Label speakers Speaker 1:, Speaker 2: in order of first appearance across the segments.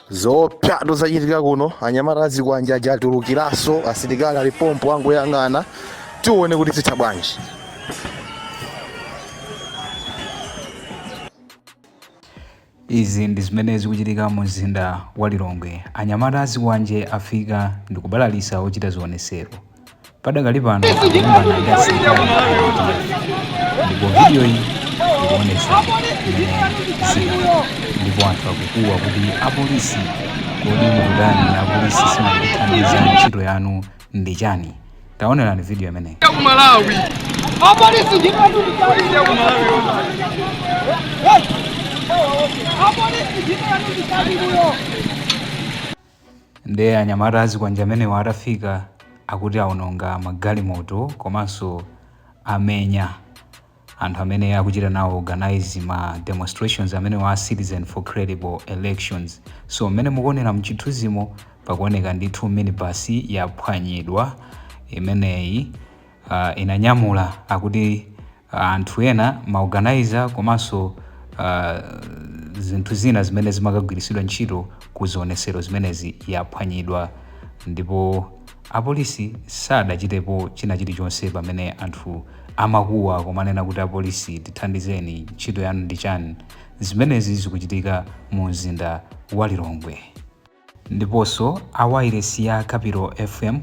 Speaker 1: zoopsa zachitika kuno anyamata azikwanje aja atulukiranso asilikali ali pompo angoyang'ana tione kuti zitha bwanji
Speaker 2: izi ndi zimene zikuchitika mu mzinda wa lilongwe anyamata azikwanje afika ndikubalalisa ochita zionesero padakali pano akulimbana ndi asilikali ndipo vidiyoyi ikuonesa ndipo anthu akukuwa kuti apolisi kodi mukutani apolisi simakuthandiza ntchito yanu ndi chani taonerani vidiyo imeneyi Nde anyamata azikwanje amenewa atafika akuti aononga magalimoto komanso amenya anthu amene akuchita nawo organize ma demonstrations amenewa a citizen for credible elections so mmene mukuonera mchithunzimo pakuoneka ndithu minibus yaphwanyidwa imeneyi uh, inanyamula akuti anthu ena, ma organiser komanso zinthu zina zimene zimakagwiritsidwa ntchito ku zionesero zimenezi yaphwanyidwa ndipo apolisi sadachitepo china chilichonse pamene anthu amakuwa kumanena kuti apolisi tithandizeni ntchito yanu ndi chani zimenezi zikuchitika mu mzinda wa Lilongwe. Ndiponso a wailesi ya Capital FM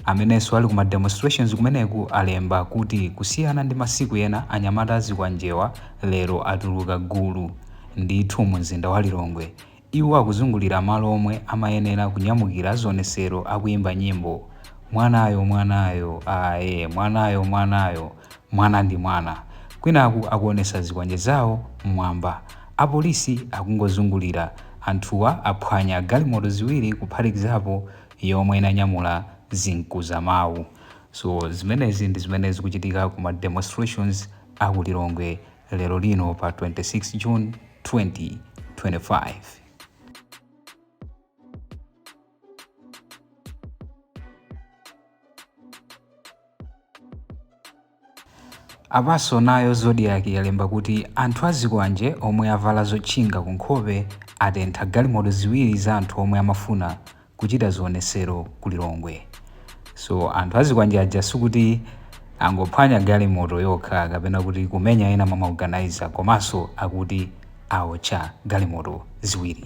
Speaker 2: amenenso ali ku ma demonstrations kumeneku alemba kuti kusiyana ndi masiku ena anyamata azikwanjewa lero atuluka gulu ndithu mu mzinda wa Lilongwe iwo akuzungulira malo omwe amayenera kunyamukira zionesero akuyimba nyimbo Mwanayo mwanayo aye mwanayo mwanayo Mwana ndi mwana. Kwinaku akuonesa zikwanje zawo mmwamba. Apolisi akungozungulira. Anthuwa aphwanya galimoto ziwiri kuphatikizapo yomwe inanyamula zinkuzamawu. So zimenezi ndi zimene zikuchitika ku ma demonstrations a ku Lilongwe lero lino pa 26 June 2025. apanso nayo zodiak yalemba kuti anthu azikwanje omwe avala zotchinga ku nkhope atentha galimoto ziwiri za anthu omwe amafuna kuchita zionesero ku lilongwe so anthu azikwanje aja sikuti angophwanya galimoto yokha kapena kuti kumenya ena mwa maorganizer komanso akuti aotcha galimoto ziwiri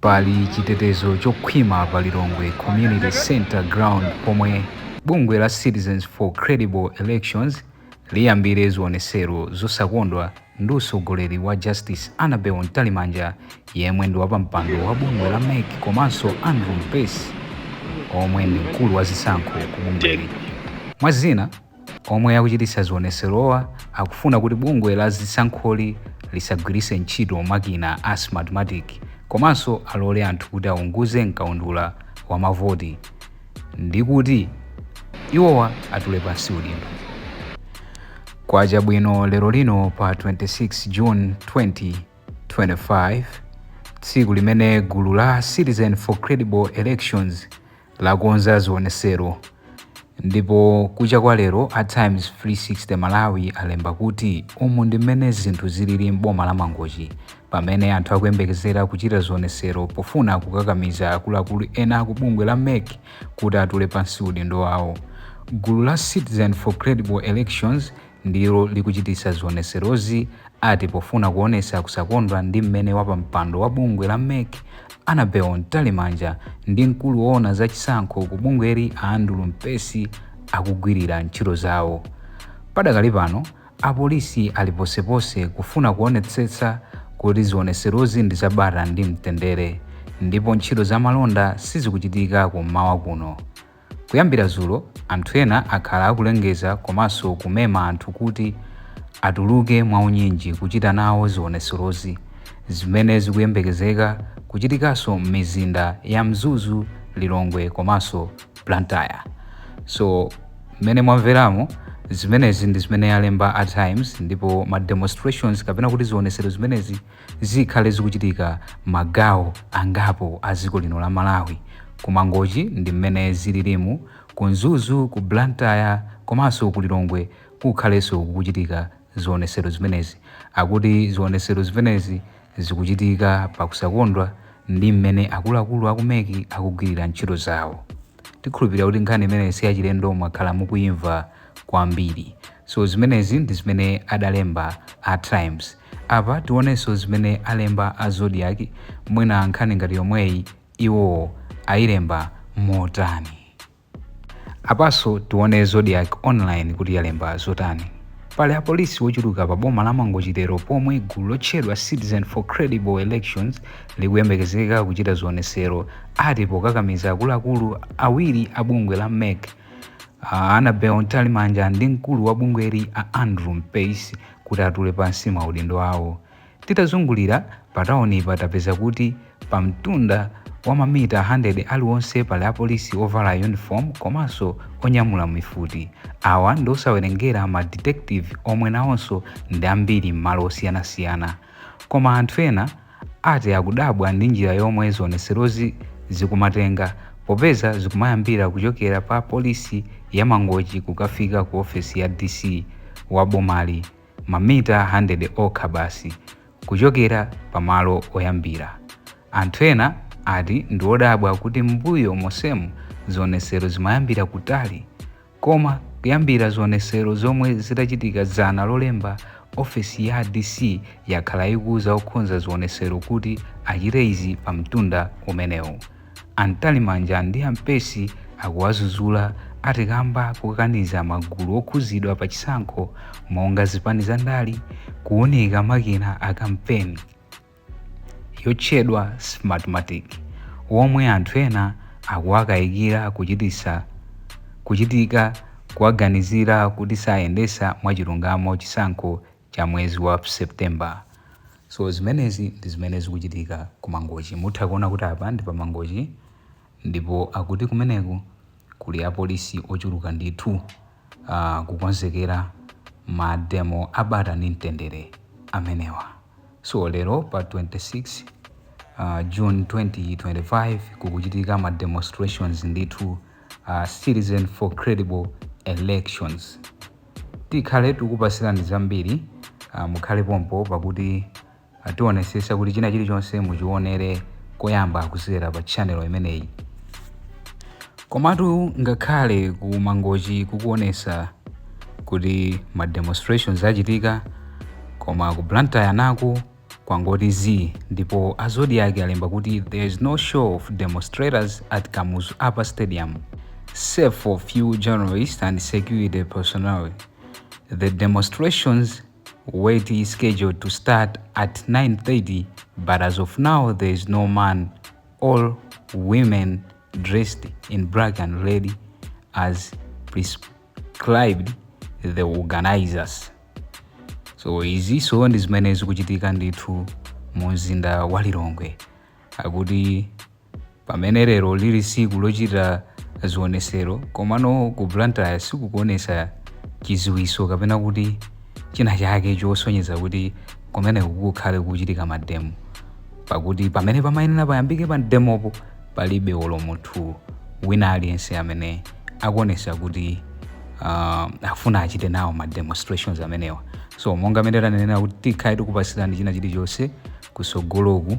Speaker 2: Pali chitetezo chokhwima pa Lilongwe Community Centre Ground pomwe bungwe la Citizens for Credible Elections liyambire zionesero zosakondwa ndi utsogoleri wa Justice Annabel Mtalimanja yemwe ndi wapampando wa bungwe la MEC komanso Andrew Mpesi omwe ndi mkulu wa zisankho ku bungweli. Mwa zina, Omwe akuchititsa zioneserowa akufuna kuti bungwe la zisankholi lisagwiritse ntchito makina a Smartmatic komanso alole anthu kuti aunguze mkaundula wa mavoti ndi kuti iwowa atule pansi udindo. Kwacha bwino lero lino pa 26 June 2025 tsiku limene gulu la Citizen for Credible Elections lakonza zionesero ndipo kucha kwa lero a Times 360 Malawi alemba kuti umu ndi mmene zinthu zilili m'boma la Mangochi pamene anthu akuyembekezera kuchita zionesero pofuna kukakamiza akuluakulu ena aku bungwe la MEC kuti atule pansi udindo wawo. Gulu la Citizen for Credible Elections ndilo likuchititsa zioneserozi ati pofuna kuonesa kusakondwa ndi mmene wapampando wa bungwe la MEC Annabel Mtalimanja ndi mkulu woona za chisankho ku bungweli a Andrew Mpesi akugwirira ntchito zawo. Padakali pano, apolisi ali ponseponse kufuna kuonetsetsa kuti zioneserozi ndi za bata ndi mtendere ndipo ntchito za malonda sizikuchitika kum'mawa kuno. Kuyambira zulo anthu ena akhala akulengeza komanso kumema anthu kuti atuluke mwa unyinji kuchita nawo zioneserozi zimene zikuyembekezeka kuchitikanso mmizinda ya Mzuzu, Lilongwe komanso Blantyre. So mmene mwamveramo, zimenezi ndi zimene alemba a Times ndipo ma demonstrations kapena kuti zionesero zimenezi, zikhale zikuchitika magawo angapo a dziko lino la Malawi. Ku Mangochi ndi mmene zililimu, ku Mzuzu, ku Blantyre komanso ku Lilongwe kukhalenso kukuchitika zionesero zimenezi. Akuti zionesero zimenezi zikuchitika pakusakondwa ndi mmene akuluakulu a ku MEC akugwirira ntchito zawo. Tikhulupirira kuti nkhani imeneyi si yachilendo mwakhala mukuimva kwambiri. So zimenezi ndi zimene adalemba a Times. Apa tionenso zimene alemba a Zodiak mwina nkhani ngati yomweyi iwo ayilemba motani. Apanso tione Zodiak Online kuti yalemba zotani. Pali apolisi wochuluka pa boma la Mangochi lero pomwe gulu lotchedwa Citizen for Credible Elections likuyembekezeka kuchita zionesero ati pokakamiza akuluakulu awiri a bungwe la MEC a Annabel Mtalimanja ndi mkulu wa bungweli a Andrew Mpesi kuti atule pansi maudindo awo. Titazungulira patauni pa tapeza kuti pamtunda wa mamita 100 aliwonse pali apolisi ovala yunifomu komanso onyamula mifuti. Awa ndi osawerengera ma detective omwe nawonso ndi ambiri m'malo osiyanasiyana. Koma anthu ena ati akudabwa ndi njira yomwe zionetserozi zikumatenga popeza zikumayambira kuchokera pa polisi ya Mangochi kukafika ku ofesi ya DC wa bomali mamita 100 okha basi kuchokera pamalo oyambira. Anthu ena ati ndi odabwa kuti m'mbuyo monsemu zionetsero zimayambira kutali Koma kuyambira zionetsero zomwe zidachitika dzana Lolemba, ofesi ya DC yakhala ikuuza okhonza zionetsero kuti achite izi pa mtunda umenewu. A Mtalimanja ndi a Mpesi akuwazuzula ati kamba kokaniza magulu okhuzidwa pa chisankho monga zipani za ndale kuunika makina a kampeni. yotchedwa Smartmatic, omwe anthu ena akuwakayikira kuchit kuchitika kuwaganizira kuti sayendetsa mwachilungamo chisankho cha mwezi wa September. So zimenezi ndi zimene zikuchitika ku Mangochi. Mutha kuona kuti apa ndi pa Mangochi Ndipo akuti kumeneko kuli apolisi ochuluka ndithu aah kukonzekera ma demo a bata ndi mtendere amenewa. So lero pa 26 June 2025 kukuchitika ma demonstrations ndithu a Citizen for Credible Elections. Tikhale tikukupatsirani zambiri mukhale pompo pakuti. Tionetsetsa kuti china chilichonse muchionere koyamba kudzera pa channel imeneyi. Komatu ngakhale ku Mangochi kukuonetsa kuti ma demonstrations achitika koma ku Blantyre naku kwangoti zii ndipo a Zodiak alemba kuti there is no show of demonstrators at Kamuzu Upper Stadium save for few journalists and security personnel. The demonstrations. Were scheduled to start at 9:30 but as of now there is no man or women dressed in black and red as prescribed the organizers. So izinso ndi zimene zikuchitika ndithu mu mzinda wa Lilongwe akuti Pamene lero lili siku lochita zionesero komano ku Blantyre sikukuonesa chizindikiro kapena kuti china chake chosonyeza kuti kumeneku kukhale kukuchitika mademo pakuti pamene pamayenera payambike pa mdemopo palibe olo munthu wina aliyense amene akuonesa kuti ah, afuna achite nawo ma demonstrations amenewa so monga mmene tanenera kuti tikhale tikupatsirani china chilichonse kusogoloku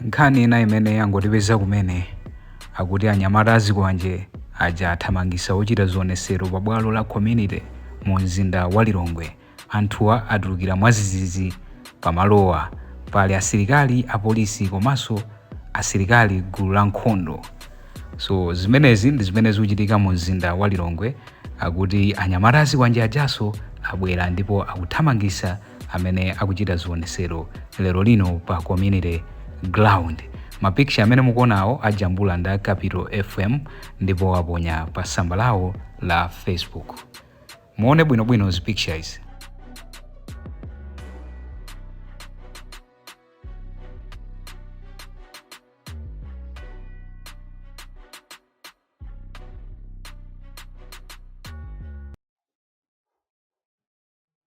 Speaker 2: Nkhani ina imene yangotipeza kumene akuti anyamata azikwanje aja athamangisa ochita zionesero pa bwalo la Community mu mzinda wa Lilongwe. Anthuwa atulukira mwadzidzidzi pa malowa. Pali asilikali, apolisi komaso asilikali gulu la nkhondo. So zimenezi ndi zimene zikuchitika mu mzinda wa Lilongwe. Akuti anyamata azikwanje ajaso abwera ndipo akuthamangisa amene akuchita zionesero lero lino pa community ground mapikicha amene mukuonawo ajambula ndi a capital fm ndipo aponya pa tsamba lawo la facebook muone bwinobwino zi pictures